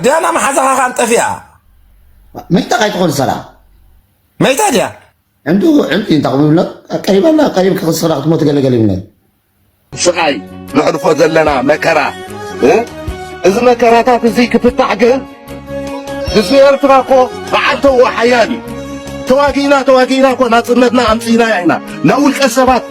ዲያና መሓዛኻ ካን ጠፊኣ መይታ ካይትኾን ሰላም መይታ ድያ ዕንዱ ዕንዱ እንታይ ክብሎ ቀሪባና ቀሪብ ክኽስራ ክትሞት ገለገለ ይብለ ስቃይ ነሕልፎ ዘለና መከራ እዚ መከራታት እዚ ክፍታሕ ግን ህዝቢ ኤርትራ እኮ በዓል ተዎ ሓያል እዩ ተዋጊእና ተዋጊእና እኮ ናፅነትና ኣምፅእና ኢና ናብ ውልቀ ሰባት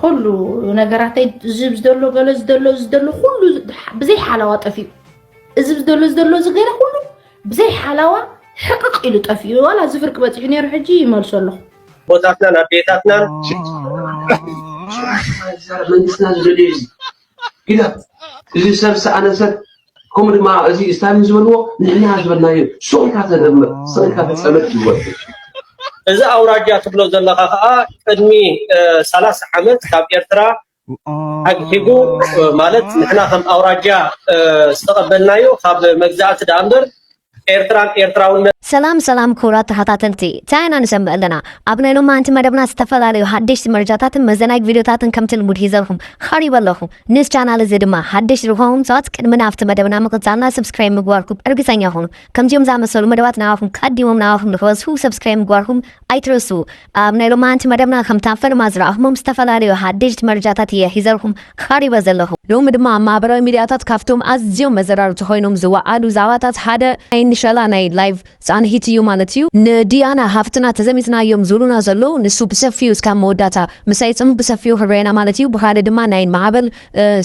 ኹሉ ነገራተይ እዚ ዝደሎ ገለ ዝደሎ እዚ ዝደሎ ኩሉ ብዘይ ሓላዋ ጠፊኡ እዚ ዝደሎ ዝደሎ እዚ ገለ ኩሉ ብዘይ ሓላዋ ሕቅቕ ኢሉ ጠፊኡ ዋላ እዚ ፍርቂ በፂሑ ነይሩ ሕጂ ይመልሶ ኣለኹ ቦታትናን ኣዴታትናን መንግስትና ዝደልዩ እዩ ግዳ እዚ ሰብ ሰኣነ ሰብ ከምኡ ድማ እዚ ስታሊን ዝበልዎ ንሕና ዝበልናዮ ሱቕ ኢልካ ተደምር ስቕ ኢልካ ተፀመድ ይወርድ እዚ ኣውራጃ ትብሎ ዘለኻ ከዓ ቅድሚ ሰላሳ ዓመት ካብ ኤርትራ ኣግሒቡ ማለት ንሕና ከም ኣውራጃ ዝተቐበልናዮ ካብ መግዛእቲ ደኣ እምበር ኤርትራን ኤርትራውነትን። ሰላም ሰላም ክቡራት ተኸታተልቲ ታይ ኢና ንሰምዕ ኣለና ኣብ ናይ ሎማዓንቲ መደብና ዝተፈላለዩ ሓደሽቲ መረጃታትን መዘናጊ ቪድዮታትን ከምቲ ልሙድ ሒዘልኩም ኸሪበ ኣለኹ ንዝ ቻናል እዚ ድማ ሓደሽቲ ዝኾንኩም ሰባት ቅድሚ ናብቲ መደብና ምቕጻልና ሰብስክራይብ ምግባርኩም እርግጸኛ ኹኑ ከምዚኦም ዝኣመሰሉ መደባት ንዓኹም ቀዲሞም ንዓኹም ንኽበዝሑ ሰብስክራይብ ምግባርኩም ኣይትረስኡ ኣብ ናይ ሎማዓንቲ መደብና ከምቲ ኣብ ፈለማ ዝረኣኹሞም ዝተፈላለዩ ሓደሽቲ መረጃታት እየ ሒዘልኩም ቐሪበ ዘለኹ። ሎሚ ድማ ኣብ ማህበራዊ ሚድያታት ካብቶም ኣዝዮም መዘራረብቲ ኾይኖም ዝወዓሉ ዛዕባታት ሓደ ናይ ንሸላ ናይ ላይቭ ፃንሒት እዩ ማለት እዩ። ንዲያና ሃፍትና ተዘሚትናዮም ዝብሉና ዘለው ንሱ ብሰፊኡ እስካብ መወዳእታ ምሳይ ፅንሑ ብሰፊኡ ክረኤና ማለት እዩ። ብኻልእ ድማ ናይ ማዕበል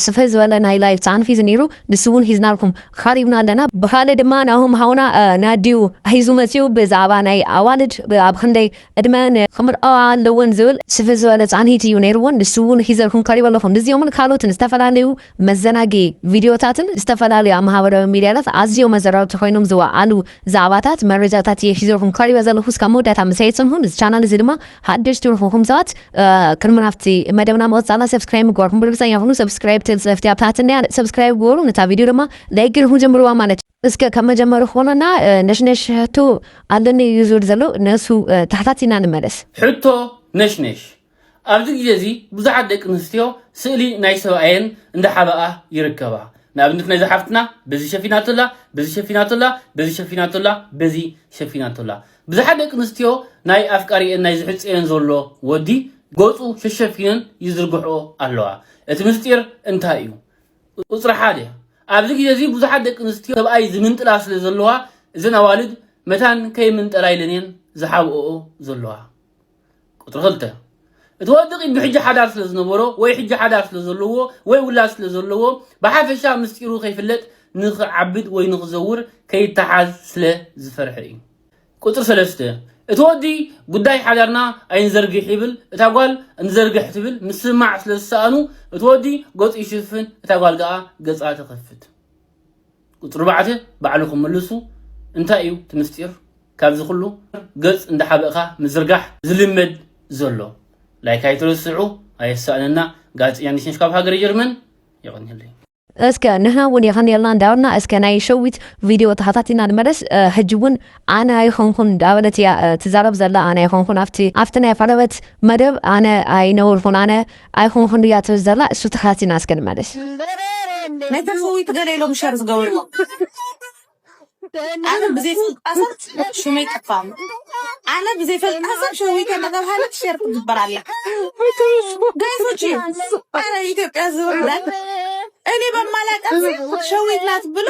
ስፍሕ ዝበለ ናይ ላይቭ ፃንሒት ነይሩ። ንሱ ውን ሒዝናልኩም ቐሪብና ኣለና። ብኻልእ ድማ ናሆም ሓውና ናዲዩ ሒዙ መጺኡ ብዛዕባ ናይ ኣዋልድ ኣብ ኽንደይ ዕድመኣን ኽምርዐዋ ኣለወን ዝብል ስፍሕ ዝበለ ጻንሒት እዩ ነይርወን ንሱ ውን ሒዘልኩም ቐሪበ ኣለኹ። ንዚኦምን ካልኦትን ዝተፈላለዩ መዘናግዒ ቪድዮታትን ዝተፈላለዩ ኣብ ማህበራዊ ሚድያታት ኣዝዮም ኣዘራረብቲ ኾይኖም ዝወዓሉ ዛዕባታት መረጃታት እየ ሒዘልኩም ቀሪበ ዘለኹ እስካብ መወዳእታ ምሳይ ፅንሑ ንዚ ቻናል እዚ ድማ ሓደሽቲ ንኹኹም ሰባት ቅድሚ ናብቲ መደብና ምቕፃልና ሰብስክራይብ ምግባርኩም ብርግፀኛ ኩኑ ሰብስክራይብ ትብል ፅሕፍቲ ኣብ ታሕቲ እኒኣ ሰብስክራይብ ግበሩ ነታ ቪድዮ ድማ ላይክ ገይርኩም ጀምርዋ ማለት እዩ እስከ ካብ መጀመሪ ክኾነና ነሽነሽ ሕቶ ኣለኒ እዩ ዝብል ዘሎ ነሱ ተሓታቲና ንመለስ ሕቶ ነሽነሽ ኣብዚ ግዜ እዚ ብዙሓት ደቂ ኣንስትዮ ስእሊ ናይ ሰብኣየን እንዳሓበኣ ይርከባ። ንኣብነት ናይዛ ሓፍትና በዚ ሸፊናቶ ኣላ፣ በዚ ሸፊናቶ ኣላ፣ በዚ ሸፊናቶ ኣላ፣ በዚ ሸፊናቶ ኣላ። ብዙሓት ደቂ ኣንስትዮ ናይ ኣፍቃሪኤን ናይ ዝሕጸየን ዘሎ ወዲ ገጹ ሸሸፊነን ይዝርግሕኦ ኣለዋ። እቲ ምስጢር እንታይ እዩ? ቁጽሪ ሓደ ኣብዚ ግዜ እዚ ብዙሓት ደቂ ኣንስትዮ ሰብኣይ ዝምንጥላ ስለ ዘለዋ እዘን ኣዋልድ መታን ከይምንጠላ ኢለን እየን ዝሓብኦኦ ዘለዋ። ቁፅሪ ክልተ እቲ ወዲ ቅድሚ ሕጂ ሓዳር ስለ ዝነበሮ ወይ ሕጂ ሓዳር ስለ ዘለዎ ወይ ውላድ ስለ ዘለዎ ብሓፈሻ ምስጢሩ ከይፍለጥ ንክዓብድ ወይ ንክዘውር ከይተሓዝ ስለ ዝፈርሐ እዩ ቁፅሪ ሰለስተ እቲ ወዲ ጉዳይ ሓዳርና ኣይንዘርግሕ ይብል እታ ጓል እንዘርግሕ ትብል ምስምማዕ ስለ ዝሰኣኑ እቲ ወዲ ገፁ ይሽፍን እታ ጓል ገኣ ገፃ ትኸፍት ቁጽሪ ባዕተ ባዕልኹም ምልሱ እንታይ እዩ እቲ ምስጢር ካብዚ ኩሉ ገጽ እንዳሓበእኻ ምዝርጋሕ ዝልመድ ዘሎ ላይክ ኣይትረስዑ ኣየሳእነና ጋዜጠኛ ኒሽነሽ ካብ ሃገረ ጀርመን የቐንየለይ። እስከ ንሕና እውን የቀንየልና እንዳበልና እስከ ናይ ሸዊት ቪድዮ ተኸታቲልና ንመለስ ሕጂ እውን ኣነ ኣይኮንኩን እንዳበለት እያ ትዛረብ ዘላ ኣነ ኣይኮንኩን ኣብቲ ኣብቲ ናይ ቀረበት መደብ ኣነ ኣይነበርኩን ኣነ ኣይኹን ክንድያ ትብል ዘላ እሱ ተኻቲና እስከ ንመለስ። ነተን ህውይቲ ገለ ኢሎም ሸር ዝገበርዎ ኣነ ብዘይፈልጣ ሰብ ሽመይ ጠፋ ኣነ ብዘይፈልጣ ሰብ ሸዊተ እናተብሃለት ሸር ትግበር ኣላ ጋይሶች ኣረ ኢትዮጵያ ዝውርዳል እኔ በማላውቃት ሸዊት ናት ብሎ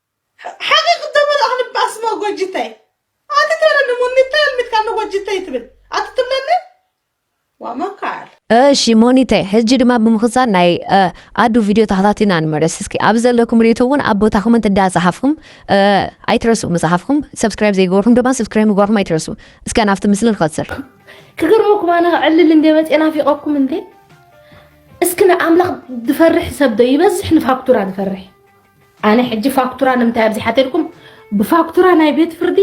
ሓቂ ክተመልኦ ክንባስሞ ጎጅተይ ኣቲ ተረኒ ሙኒተይ ኣልሚትካኒ ጎጅተይ ትብል ኣቲ ትብለኒ ዋመካል እሺ ሞኒተይ ሕጂ ድማ ብምክሳን ናይ ኣዱ ቪድዮ ተኸታቲና ንመለስ እስኪ ኣብ ዘለኩም ሬቶ እውን ኣብ ቦታኹምን እንዳፀሓፍኩም ኣይትረስኡ ምፅሓፍኩም ሰብስክራይብ ዘይገበርኩም ድማ ሰብስክራይብ ምግባርኩም ኣይትረስኡ እስከ ናብቲ ምስሊ ንኸትስር ክገርመኩም ኣነ ዕልል እንደ መፅኤ ናፊቐኩም እንዴ እስኪ ንኣምላኽ ዝፈርሕ ሰብ ዶ ይበዝሕ ንፋክቱራ ዝፈርሕ ኣነ ሕጂ ፋክቱራ ንምንታይ ኣብዚሓ ተልኩም ብፋክቱራ ናይ ቤት ፍርዲ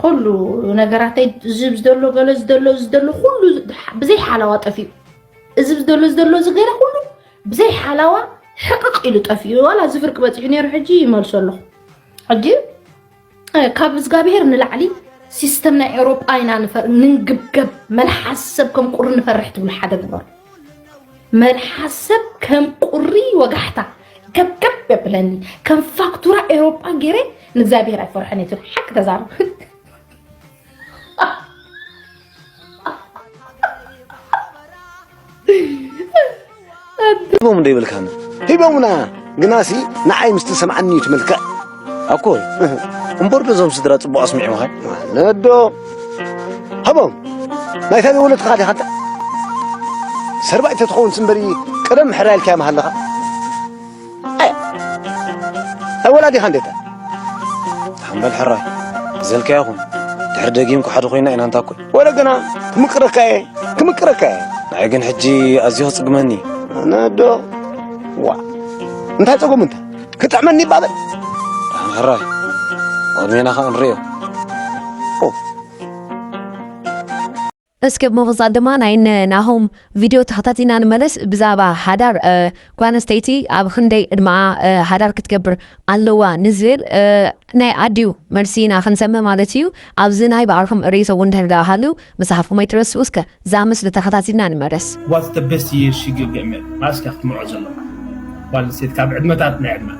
ኩሉ ነገራተይ እዚ ዝደሎ ገለ ዝደሎ ዝደሎ ኩሉ ብዘይ ሓላዋ ጠፊኡ እዚ ዝደሎ ዝደሎ እዚ ገለ ኩሉ ብዘይ ሓላዋ ሕቅቕ ኢሉ ጠፊኡ ዋላ እዚ ፍርቂ በፂሑ ነይሩ ሕጂ ይመልሶ ኣለኹ ሕጂ ካብ እዝጋብሄር ንላዕሊ ሲስተም ናይ ኤውሮጳ ኢና ንንግብገብ መልሓስ ሰብ ከም ቁሪ ንፈርሕ ትብሉ ሓደ ግበር መልሓስ ሰብ ከም ቁሪ ወጋሕታ ከብከብ የብለኒ ከም ፋክቱራ ኤውሮጳ ገይረ ንእግዚኣብሄር ኣይፈርሐን እየ ትብል ሓቂ ተዛረብ ሂቦም ዶ ይብልካን ሂቦምና ግናሲ ንዓይ ምስ ተሰምዓኒ እዩ ትመልክዕ ኣኮ እምበር ዶ እዞም ስድራ ፅቡቅ ኣስሚዕምኻ ማለት ዶ ሃቦም ናይ ታበይ ወለድካ ዲኻ እንተ ሰርባይተ ትኸውን ስምበሪ ቀደም ሕራይ ኢልካዮም ሃለኻ ኣይ ወላ ዲኻ እንዴታ ሓምበል ሕራይ ዘልካ ይኹን ድሕሪ ደጊም ኩሓዲ ኮይና ኢና እንታ ኮይ ወለ ግና ክምቅረካ እየ ክምቅረካ እየ ንዓይ ግን ሕጂ ኣዝዩ ክጽግመኒ ኣነዶ ዋ እንታይ ጸጎም እንተ ክጥዕመኒ ይባበል ድሓን ሕራይ ቅድሜና ከ ንርእዮ እስከ ብምቕጻል ድማ ናይ እነ ናሆም ቪድዮ ተኸታቲልና ንመለስ ብዛዕባ ሓዳር ጓል ኣንስተይቲ ኣብ ኽንደይ ዕድመኣ ሓዳር ክትገብር ኣለዋ ንዝብል ናይ ኣዲኡ መልሲ ኢና ክንሰምዕ ማለት እዩ ኣብዚ ናይ ባዕልኹም ርእይቶ ውን እንድሕር ድኣ ሃልዩ ምጽሓፍኩም ኣይትረስዑ እስከ እዛ ምስሊ ተኸታቲልና ንመለስ። What's the best year she give him it መኣስ ድያ ክትምርዖ ዘለዋ ጓል ኣንስተይቲ ካብ ዕድመታት ናይ ዕድመኣ።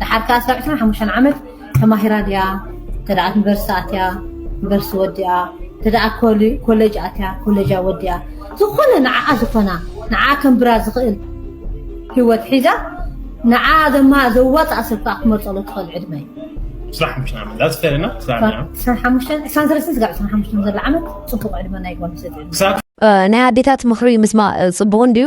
ደሓር ከኣ ስጋብ ዕስራን ሓሙሽተን ዓመት ተማሂራ ድያ እንተደኣ ዩኒቨርሲቲ ኣትያ ዩኒቨርሲቲ ወዲኣ እንተደኣ ኮለጅ ኣትያ ኮለጃ ወዲኣ ዝኾነ ንዓኣ ዝኾና ንዓኣ ከንብራ ዝኽእል ህይወት ሒዛ ንዓኣ ዘማ ዘዋፅኣ ሰብ ከኣ ክመርፀሉ ትኽእል ዕድመ እዩ ስራሕ ሓሙሽተ ዓመት ዳስ ፌር ኢናፍ ስራሕ ዕስራን ዓመት ዕስራን ሓሙሽተን ዕስራን ሰለስተን ስጋብ ዕስራን ሓሙሽተን ዘሎ ዓመት ፅቡቕ ዕድመ ናይ ጓል ኣንስተይቲ ዕድመ ክሳብ ናይ ኣዴታት ምኽሪ ምስማዕ ፅቡቕ እንድዩ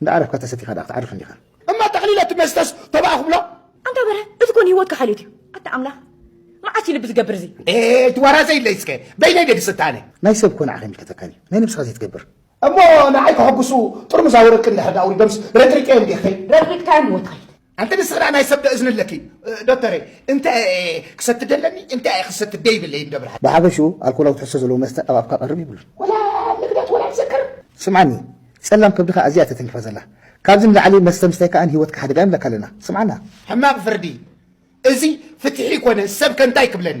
እንዳ ዓረፍካ ተሰቲኻ ድኣ ክትዓርፍ እንዲኻ። እማ ጠቕሊለ እቲ መስተስ ተባዕ ክብሎ። ኣንታ በርሀ እዚ ኮን ሂወትካ ሓልዮት እዩ ኣታ ኣምላኽ መዓስ እዩ ልቢ ዝገብር እዚ ኤይ ትዋራ ዘይለይ እስከ በይነይ ድየ ድስታ ኣነ። ናይ ሰብ እኮ ንዓኻ ኣይምልከተካን እዩ ናይ ነብስኻ ዘይትገብር። እሞ ንዓይ ከሐጉሱ ጥርሙዝ ኣወረቂ እንድሕር ድኣ ኣውሪዶምስ ረጥሪጠዮም ዲኺ። ረጥሪጥካዮም ሂወትካ እዩ። ኣንቲ ንስኽዳ ናይ ሰብ ዶ እዝኒ ኣለኪ ዶተረ እንታይ ኣየ ክሰቲ ደለኒ እንታይ ኣየ ክሰቲ ደይብለይ እንዶ ብርሃን። ብሓፈሽኡ ኣልኮላዊ ትሕዝቶ ዘለዎ መስተ ኣብ ኣፍካ ቀርብ ይብሉን። ወላ ኣብ ንግዳት ወላ ኣብ ዘክር። ስምዓኒ ጸላም ከብድኻ ኣዚያ እያ ተተንኪፋ ዘላ ካብዚ ንላዕሊ መስተ ምስታይ ከኣ ንሂወትካ ሓደጋ እዩ ንብለካ ኣለና ስምዓና። ሕማቅ ፍርዲ እዚ ፍትሒ ኮነስ ሰብከ እንታይ ክብለኒ።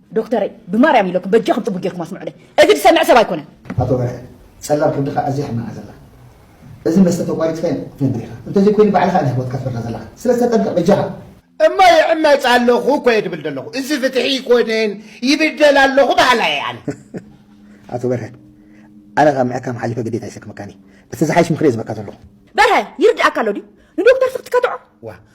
ዶክተረይ ብማርያም ኢለኩም በጃኩም ጽቡቅ ጌርኩም ኣስምዑለይ እዚ ዝሰምዕ ሰብ ኣይኮነን። ኣቶ በርሀ ጸላም ከብድኻ ኣዝያ ሕማቃ ዘላ እዚ መስተ ተቋሪጽካዮ ክትነብር ኢኻ እንተዘይ ኮይኑ ባዕልኻ ኢኻ ሂወትካ ትፈርዳ ዘለኻ ስለዚ ተጠንቀቅ በጃኻ። እሞ ይዕመጽ ኣለኹ እኮ እየ ድብል ደለኹ እዚ ፍትሒ ኣይኮነን ይብደል ኣለኹ በሃላይ እየ ኣነ። ኣቶ በርሀ ኣነ ካብ ምሕካም ሓሊፈ ግዴታ ይሰክመካን እየ እቲ ዝሓይሽ ምኽሪ እየ ዝበካ ዘለኹ። በርሀ ይርድኣካ ኣሎ ድዩ ንዶክተር ስክ ትከትዖ። ዋእ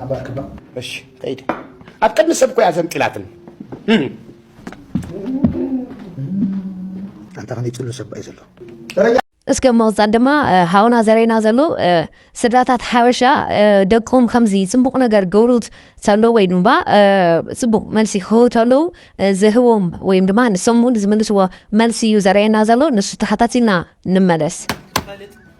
ሓባርክባ እሺ ከይደ ኣብ ቅድሚ ሰብ ኮያ ዘንጢላትኒ። ኣንታ ከመይ ጽሉ ሰብ ባዩ ዘሎ ደረጃ። እስከ ምቕጻል ድማ ሃውና ዘረና ዘሎ ስድራታት ሓበሻ ደቆም ከምዚ ጽቡቕ ነገር ገውሩት ተሎ ወይ ድማ ጽቡቕ መልሲ ክህቡ ተለዉ ዝህቦም ወይም ድማ ንሶም እውን ዝምልስዎ መልሲ እዩ ዘረየና ዘሎ ንሱ ተሓታቲና ንመለስ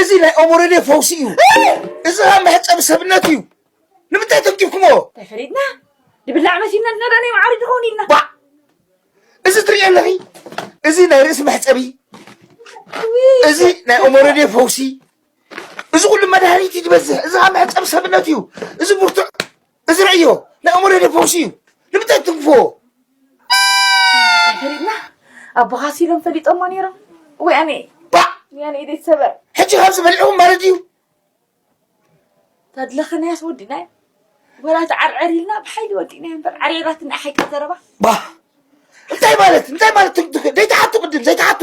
እዚ ናይ ኦሞረዴ ፈውሲ እዩ እዚ ኸዓ መሕፀቢ ሰብነት እዩ ንምንታይ ተንኪፍኩሞ ተፈሪድና ንብላዕ መሲልና ዝነረእናዮ መዓሪ ድኸውን ኢልና ባዕ እዚ ትሪእዮ ኣለኺ እዚ ናይ ርእሲ መሕፀቢ እዚ ናይ ኦሞረዴ ፈውሲ እዚ ኩሉ መድሃኒት እዩ ዝበዝሕ እዚ ኸዓ መሕፀቢ ሰብነት እዩ እዚ ብርቱዕ እዚ ርእዮ ናይ ኣእምሮ ዶ ፈውሲ እዩ ንምንታይ ትንፍዎ ተሪብና ኣቦኻ ሲሎም ፈሊጦሞ ነይሮም ወያኔ ባዕ ወያኔ ኢደይ ትሰበር ሕጂ ካብዚ በሊዕኩም ማለት እዩ ተድለኸናያስ ወዲናዮ ወላ ተዓርዕር ኢልና ብሓይሊ ወዲእናዮ እምበር ዓሪዕራትና ሓቂ ዘረባ ባ እንታይ ማለት እንታይ ማለት ደይትሓቱ ቅድም ዘይትሓቱ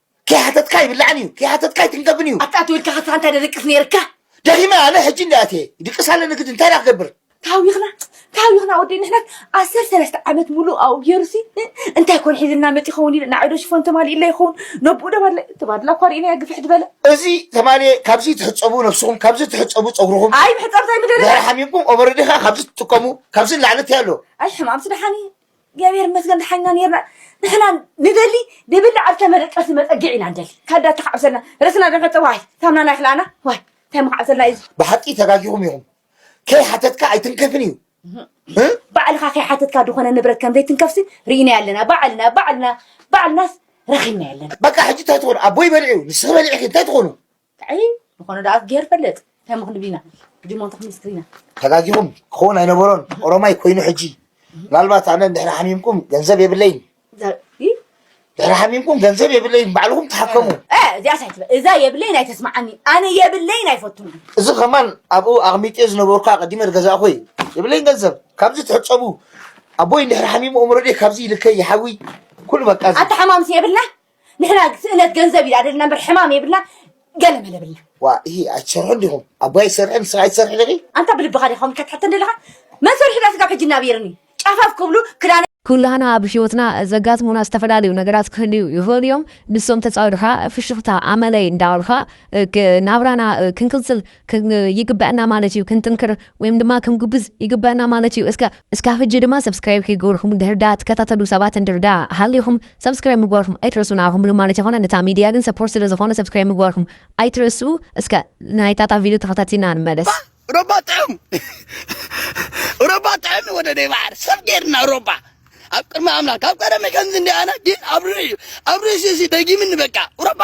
ከይሓተትካ ይብላዕን እዩ ከይሓተትካ ይትንከፍን እዩ። ኣታ ኣቲ ውልቀ ከስራ እንታይ ደደቅስ ነይርካ። ደኺመ ኣነ ሕጂ እንድየ ኣትየ ይድቅስ ኣለኒ ግዲ እንታይ ድኣ ክገብር። ተሃዊኽና ተሃዊኽና ወደይ ንሕናስ ኣሰርተ ሰለስተ ዓመት ሙሉእ ኣብኡ ጌሩሲ እንታይ ኮን ሒዝልና መጺኡ ይኸውን ኢለ ንዓይዶ ሽፎን ተማሊኡላ ይኸውን ነብኡ ደባድላ ተባድላ እኳ ርኢናያ ግፍሕ ድበለ እዚ ተማልየ ካብዚ ትሕጸቡ ነብስኹም ካብዚ ትሕጸቡ ጸጉርኹም ኣይ ምሕጻብ ድሕሪ ዘይምደለና ሓሚምኩም ኦቨረዲ ከኣ ካብዚ ትጥቀሙ ካብዚ ንላዕሊ እንታይ ኣሎ ኣይ ሕማምሲ ደሓን እዩ እግዚኣብሔር ይመስገን ደሓንና ኔርና ንሕና ንደሊ ንብልዕ ኣብ ተመረቀሲ መጸግዕ ኢና ንደሊ ካዳ ተካዕብሰልና ርእስና ደንፈተ ዋይ ታምናና ይክላና ዋይ እንታይ መካዕብሰልና እዩ ብሓቂ ተጋጊኹም ኢኹም ከይሓተትካ ኣይትንከፍን እዩ ባዕልኻ ከይሓተትካ ዝኾነ ንብረት ከም ዘይትንከፍሲ ርኢናዮ ኣለና ባዕልና ባዕልና ባዕልናስ ረኺብናዮ ኣለና በቃ ሕጂ እንታይ ትኾኑ ኣቦይ በልዑ ንስኺ በሊዕኺ እንታይ ትኾኑ ታይ ምኮነ ዳኣ ገይሩ ፈልጥ ታይ ምክን ቢና ጅሞን ተክሚስ ክሪና። ተጋጊኹም ክኸውን ኣይነበሮን ኦሮማይ ኮይኑ ሕጂ ምናልባት ኣነ ድሕሪ ሓሚምኩም ገንዘብ የብለይን ድሕሪ ሓሚምኩም ገንዘብ የብለይን ባዕልኹም ተሓከሙ እዚኣ ሳይ ትበል እዛ የብለይን ኣይተስማዓኒ ኣነ የብለይን ኣይፈቱን እዚ ከማን ኣብኡ ኣቕሚጤ ዝነበርኩ ኣቐዲመ ዝገዛእኹ እዩ የብለይን ገንዘብ ካብዚ ትሕፀቡ ኣቦይ እንድሕሪ ሓሚሙ እምሮዴ ካብዚ ይልከይ ይሓዊ ኩሉ በቃ ኣተሓማምሲ የብልና ንሕና ስእነት ገንዘብ እዩ ኣደልና እምበር ሕማም የብልና ገለ መለ ብልና ዋ ይሄ ኣይትሰርሑ ዲኹም ኣቦይ ኣይሰርሕን ንስኻ ኣይትሰርሒ ዲኺ ኣንታ ብልብኻ ዲኻ ከምካ ትሕተን ዘለኻ መን ሰሪሑ ዳ ስጋብ ሕጂ እናብየርኒ ጫፋፍ ክብሉ ክዳነ ኩላህና ኣብ ህይወትና ዘጋጥሙና ዝተፈላለዩ ነገራት ክህልዩ ይኽእሉ እዮም ንሶም ተጻዊርካ ፍሽኽታ ኣመለይ እንዳበልካ ናብራና ክንቅጽል ይግበእና ማለት እዩ ክንጥንክር ወይም ድማ ክንጉብዝ ይግበእና ማለት እዩ እስከ እስካብ ሕጂ ድማ ሰብስክራይብ ከይገበርኩም እንድሕር ደኣ ትከታተሉ ሰባት እንድሕር ደኣ ሃሊኹም ሰብስክራይብ ምግባርኩም ኣይትረስኡ ንዓኹም ኢሉ ማለት ኣይኮነን እታ ሚድያ ግን ሰፖርት ስለ ዝኾነ ሰብስክራይብ ምግባርኩም ኣይትረስኡ እስከ ናይታ እታ ቪድዮ ተኸታቲልና ንመለስ ሮባ ጥዑም ሮባ ጥዑም ወደ ደይ ባሕር ሰብ ጌርና ሮባ ኣብ ቅድሚ ኣምላክ ካብ ቀደመ ከምዚ እንዲ ኣነ ግን ኣብ ርእዩ ኣብ ርእሲ እዚ ደጊምኒ በቃ ሮባ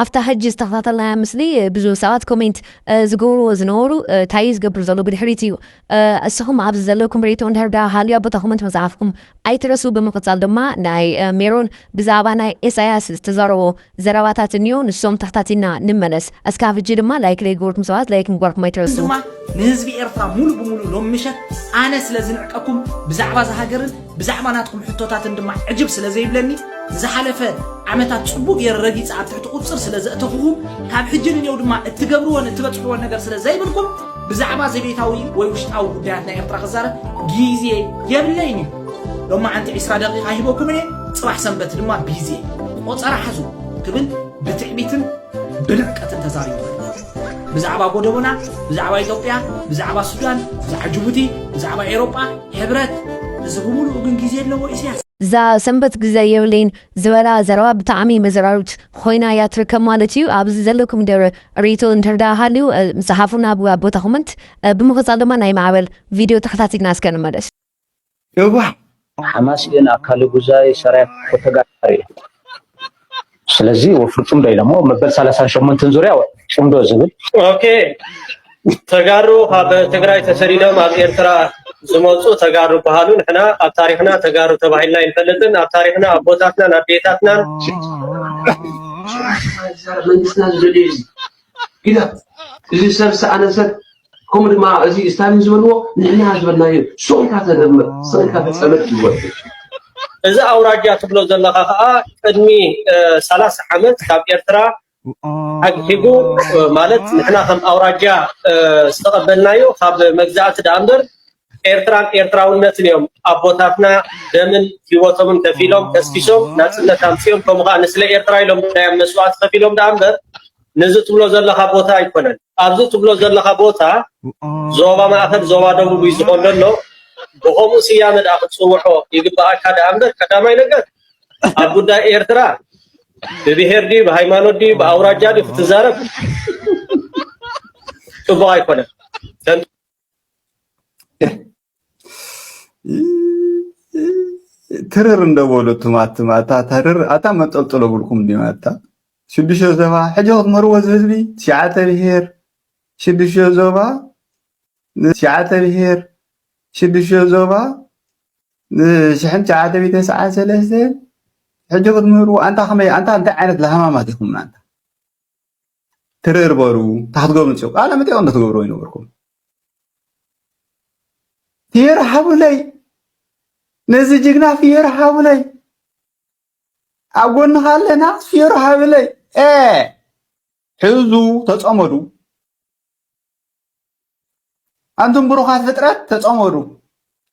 ኣብታ ሕጂ ዝተኸታተልናያ ምስሊ ብዙህ ሰባት ኮሜንት ዝገብርዎ ዝነበሩ ታይ እዩ ዝገብር ዘሎ ብድሕሪት እዩ እስኹም ኣብዚ ዘለኩም ሪኢቶ እንድሕር ድኣ ሃልዩ ኣብ ቦታ ኮመንት ምጽሓፍኩም ኣይትረስኡ ብምቅጻል ድማ ናይ ሜሮን ብዛዕባ ናይ ኤሳያስ ዝተዛረቦ ዘረባታት እንዮ ንሶም ተኽታቲልና ንመለስ እስካብ ሕጂ ድማ ላይክ ለይገበርኩም ሰባት ላይክ ምግባርኩም ኣይትረስኡ። ድማ ንህዝቢ ኤርትራ ሙሉእ ብሙሉእ ሎሚ ምሸት ኣነ ስለ ዝንዕቀኩም ብዛዕባ እዛ ሃገርን ብዛዕባ ናትኩም ሕቶታትን ድማ ዕጅብ ስለ ዘይብለኒ ንዝሓለፈ ዓመታት ጽቡቕ ገይረ ረጊጸ ኣብ ትሕቲ ቁጽር ስለ ዘእተኹኹም ካብ ሕጂ ንኔው ድማ እትገብርዎን እትበጽሕዎን ነገር ስለ ዘይብልኩም ብዛዕባ ዘቤታዊ ወይ ውሽጣዊ ጉዳያት ናይ ኤርትራ ክዛረብ ግዜ የብለይን እዩ ሎማዓንቲ 20 ደቂቃ ሂበኩም እየ ጽባሕ ሰንበት ድማ ቢዜ ቆጸራ ሓዙ ክብል ብትዕቢትን ብንዕቀትን ተዛሪቡ ብዛዕባ ጎደቦና ብዛዕባ ኢትዮጵያ ብዛዕባ ሱዳን ብዛዕባ ጁቡቲ ብዛዕባ ኤሮጳ ሕብረት እዚ ብምሉኡ ግን ግዜ ኣለዎ ኢስያስ። እዛ ሰንበት ግዘ የብለይን ዝበላ ዘረባ ብጣዕሚ መዘራርብት ኾይና እያ ትርከብ ማለት እዩ። ኣብዚ ዘለኩም ደረ ሪቶ እንተርዳ ሃልዩ ምስ ሓፉና ኣብ ቦታ ኮመንት ብምክጻል ድማ ናይ ማዕበል ቪድዮ ተከታቲልና እስከ ንመለስ። የዋህ ሓማስ ግን ኣካሊ ጉዛይ ሰራየ ክልተ ተጋዳሪ እዩ። ስለዚ ወፍሪ ፅምዶ ኢሎሞ መበል ሰላሳን ሸሞንትን ዙርያ ወፍሪ ፅምዶ ዝብል ኦኬ ተጋሩ ካብ ትግራይ ተሰዲዶም ኣብ ኤርትራ ዝመፁ ተጋሩ ይበሃሉ። ንሕና ኣብ ታሪኽና ተጋሩ ተባሂልና ኣይንፈልጥን። ኣብ ታሪኽና ኣቦታትናን ኣዴታትናን መንግስትና ዝደልዩ እዩ ግዳ እዚ ሰብ ሰኣነ ሰብ ከምኡ ድማ እዚ ስታሊን ዝበልዎ ንሕና ዝበልናዮ ሱቕ ኢልካ ተደምር ስቕ ኢልካ ተፀመድ ይወድእ እዚ ኣውራጃ ትብሎ ዘለኻ ከዓ ቅድሚ ሰላሳ ዓመት ካብ ኤርትራ ኣግሒቡ ማለት ንሕና ከም ኣውራጃ ዝተቐበልናዮ ካብ መግዛእቲ ደኣ እምበር ኤርትራን ኤርትራውነትን እዮም ኣቦታትና ደምን ህይወቶምን ከፊሎም ከስኪሶም ናፅነት ኣምፅኦም ከምኡ ከዓ ንስለ ኤርትራ ኢሎም ናዮም መስዋእቲ ከፊሎም ደኣ እምበር ነዚ ትብሎ ዘለካ ቦታ ኣይኮነን ኣብዚ ትብሎ ዘለካ ቦታ ዞባ ማእከል ዞባ ደቡብ እዩ ዝኾን ዘሎ ብከምኡ ስያመ ደኣ ክትፅውዖ ይግበኣካ ደኣ እምበር ቀዳማይ ነገር ኣብ ጉዳይ ኤርትራ ብብሄር ድዩ ብሃይማኖት ድዩ ብኣውራጃ ድዩ ክትዛረብ ፅቡቅ ኣይኮነን ትርር እንደበሉ ትማትም ኣታ ተርር ኣታ መንጠልጥሎ ብልኩም ዲማ ኣታ ሽዱሽተ ዞባ ሕጂ ክትምህርዎ እዚ ህዝቢ ትሽዓተ ብሄር ሽዱሽተ ዞባ ትሽዓተ ብሄር ሽዱሽተ ዞባ ንሽሕን ትሽዓተ ሚእቲ ተስዓን ሰለስተ ሕጂ ክትምህርዎ ኣንታ ከመይ ኣንታ እንታይ ዓይነት ለሃማማት ኢኹም ኣንታ ክትትርርበሩ ታሕቲ ጎብንፅኡ ቃለ መጠይቕ እንተትገብርዎ ይነበርኩም ፍየራ ሓቡለይ ነዚ ጅግና ፍየራ ሓቡለይ ኣብ ጎንኻ ኣለና ፍየራ ሓቡለይ ኤ ሕዙ ተፀመዱ ኣንቱም ብሩኻት ፍጥረት ተፀመዱ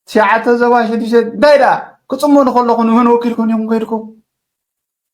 ትሽዓተ ዞባ ሽዱሽተ እንታይ ደኣ ክፅመዱ ከለኹ ንመን ወኪልኩም ኢኹም ከይድኩም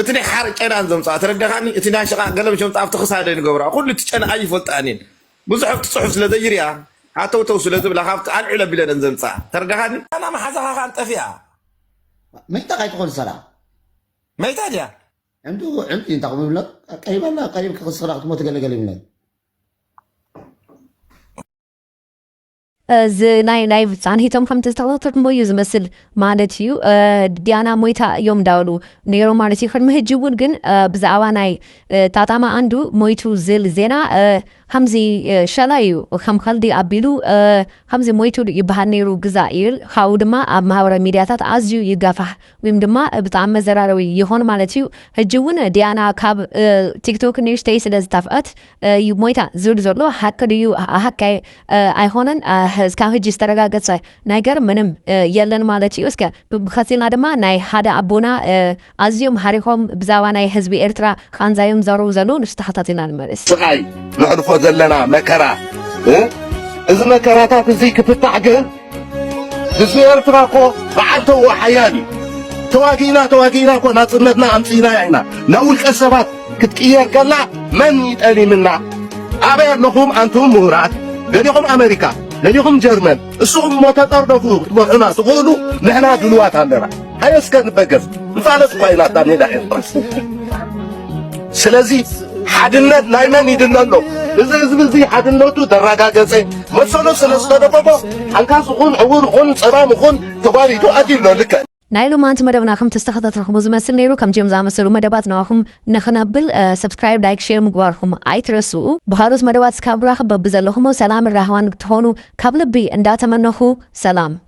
እቲ ናይ ሓር ጨናን ዘምጽኣ ተረደኻኒ እቲ ናይ ሽቓቕ ገለ ምሸምጽኣ ኣብቲ ክሳደይ ንገብራ ኩሉ እቲ ጨና ኣይፈልጣን እየን ብዙሕ ኣብቲ ጽሑፍ ስለ ዘይርእያ ሃተውተው ስለ ዝብላ ካብቲ ኣልዕል ኣቢለን እየን ዘምጽኣ ተረደኻኒ ጨና መሓዛኻ ካን ጠፊኣ። መይታ ካይትኾን ሰላም። መይታ ድያ? ዕንዱ ዕንዲ እንታይ ክብል ይብሎ ቀሪባ ኣላ ቀሪብካ ክስኽራ ክትሞት ገለ ገለ ይብሎ። እዚ ናይ ናይ ጻንሒቶም ከምቲ ዝተኸታተልኩሞ እዩ ዝመስል ማለት እዩ ዲያና ሞይታ እዮም እንዳበሉ ነይሮም ማለት እዩ ቅድሚ ሕጂ እውን ግን ብዛዕባ ናይ ታታማ ኣንዱ ሞይቱ ዝል ዜና ከምዚ ሸላ እዩ ከም ከልዲ ኣቢሉ ከምዚ ሞይቱ ይበሃል ነይሩ ግዛ እዩ ካብኡ ድማ ኣብ ማህበራዊ ሚዲያታት ኣዝዩ ይጋፋሕ ወይም ድማ ብጣዕሚ መዘራረቢ ይኾን ማለት እዩ ሕጂ እውን ዲያና ካብ ቲክቶክ ንእሽተይ ስለ ዝታፍአት እዩ ሞይታ ዝብል ዘሎ ሓቂ ድዩ ሓቂ ኣይኮነን እስካብ ሕጂ ዝተረጋገፀ ነገር ምንም የለን ማለት እዩ እስከ ብከሲልና ድማ ናይ ሓደ ኣቦና ኣዝዮም ሓሪኾም ብዛባ ናይ ህዝቢ ኤርትራ ቃንዛዮም ዘረቡ ዘለዉ ንሱ ተኸታቲልና ንመልስ ስቃይ ነሕልፎ ዘለና መከራ እዚ መከራታት እዚ ክፍታሕ ግን ህዝቢ ኤርትራ እኮ በዓል ተውኦ ሓያል እዩ። ተዋጊእና ተዋጊእና እኮ ናጽነትና ኣምጺእናያ ኢና። ናብ ውልቀ ሰባት ክትቅየር ከላ መን እዩ ጠሊምና? ኣበይ ኣለኹም ኣንቱም ምሁራት? ደሊኹም ኣመሪካ፣ ደሊኹም ጀርመን፣ እስኹም እሞ ተጠርነፉ ክትመርሑና ትኽእሉ ንሕና ድሉዋት ኣለና። ሃየ እስከ ንበገስ ንፋለስ እኳ ኢላታ ሜዳ ኤርትራ ስለዚ ሓድነት ናይ መን ይድለ ኣሎ እዚ ህዝቢ እዚ ሓድነቱ ተረጋገፀ መሰሎ ስለ ዝተደቆቆ ሓንካስ ኹን ዕውር ኹን ፀባም ኹን ተጓሪቱ ኣትዩ ኣሎ ልክዕ ናይ ሎማንቲ መደብና ከም ተስተኸታተልኹም ዝመስል ነይሩ ከምዚኦም ዝኣመሰሉ መደባት ንዋኹም ንኽነብል ሰብስክራይብ ላይክ ሼር ምግባርኹም ኣይትረስኡ ብካልኦት መደባት እስካብ ራኽብ በብዘለኹሞ ሰላምን ራህዋን ትኾኑ ካብ ልቢ እንዳተመነኹ ሰላም